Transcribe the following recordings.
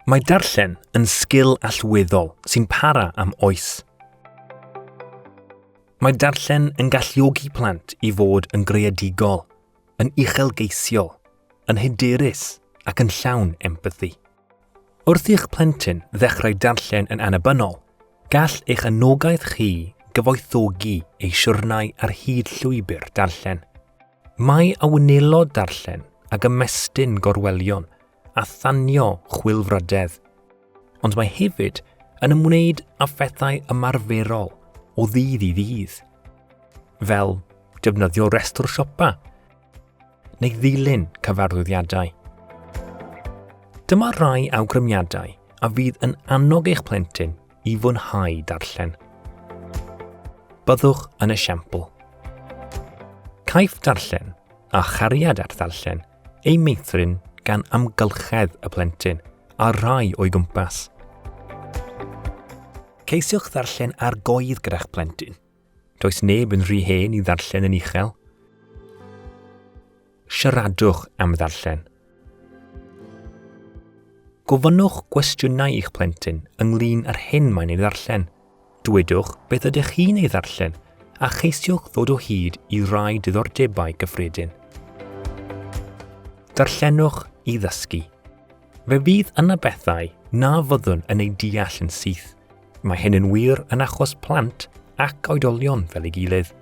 Mae darllen yn sgil allweddol sy'n para am oes. Mae darllen yn galluogi plant i fod yn greadigol, yn uchelgeisiol, yn hyderus ac yn llawn empathi. Wrth i'ch plentyn ddechrau darllen yn annibynnol, gall eich anogaeth chi gyfoethogi ei siwrnau ar hyd llwybr darllen. Mae a wnelo darllen ag ymestyn gorwelion a thanio chwilfrydedd, ond mae hefyd yn ymwneud â phethau ymarferol o ddydd i ddydd, fel defnyddio restr siopa neu ddilyn cyfarwyddiadau. Dyma rai awgrymiadau a fydd yn annog eich plentyn i fwynhau darllen. Byddwch yn esiampl. Caiff darllen a chariad at ddarllen ei meithrin gan amgylchedd y plentyn a rhai o'i gwmpas. Ceisiwch ddarllen ar goedd gyda'ch plentyn. Does neb yn rhy hen i ddarllen yn uchel. Siaradwch am ddarllen. Gofynnwch gwestiynau i'ch plentyn ynglyn â'r hyn mae'n ei ddarllen. Dwedwch beth ydych chi'n ei ddarllen a cheisiwch ddod o hyd i rai diddordebau gyffredin. Darllenwch i ddysgu. Fe fydd yna bethau na fyddwn yn ei deall yn syth, Mae hyn yn wir yn achos plant ac oedolion fel ei gilydd.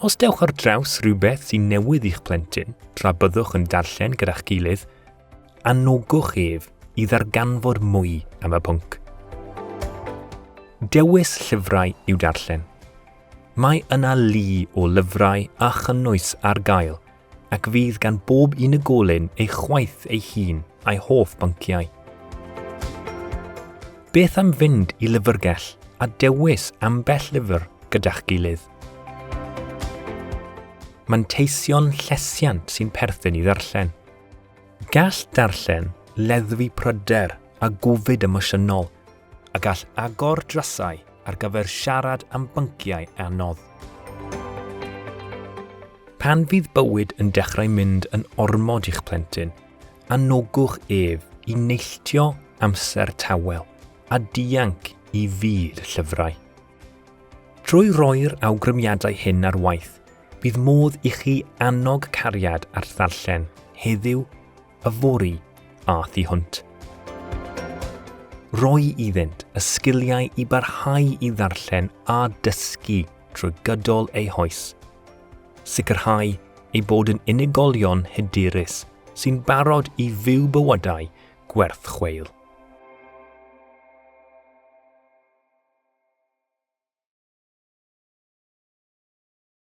Os dewch ar draws rhywbeth sy'n newydd i'ch plentyn tra byddwch yn darllen gyda'ch gilydd, anogwch ef i ddarganfod mwy am y pwnc. Dewis llyfrau i'w darllen. Mae yna lu o lyfrau a chynnwys ar gael – ac fydd gan bob unigolyn ei chwaith ei hun a'i hoff bynciau. Beth am fynd i lyfrgell a dewis ambell lyfr gyda'ch gilydd? Manteision llesiant sy'n perthyn i ddarllen. Gall darllen leddfu pryder a gofid emosiynol a gall agor drysau ar gyfer siarad am bynciau anodd. Pan fydd bywyd yn dechrau mynd yn ormod i'ch plentyn, anogwch ef i neilltio amser tawel a dianc i fyd llyfrau. Trwy roi'r awgrymiadau hyn ar waith, bydd modd i chi annog cariad at ddarllen heddiw Yfory a thu hwnt. Rhoi iddynt y sgiliau i barhau i ddarllen a dysgu trwy gydol eu hoes. Sicrhau eu bod yn unigolion hyderus sy'n barod i fyw bywydau gwerth chweil.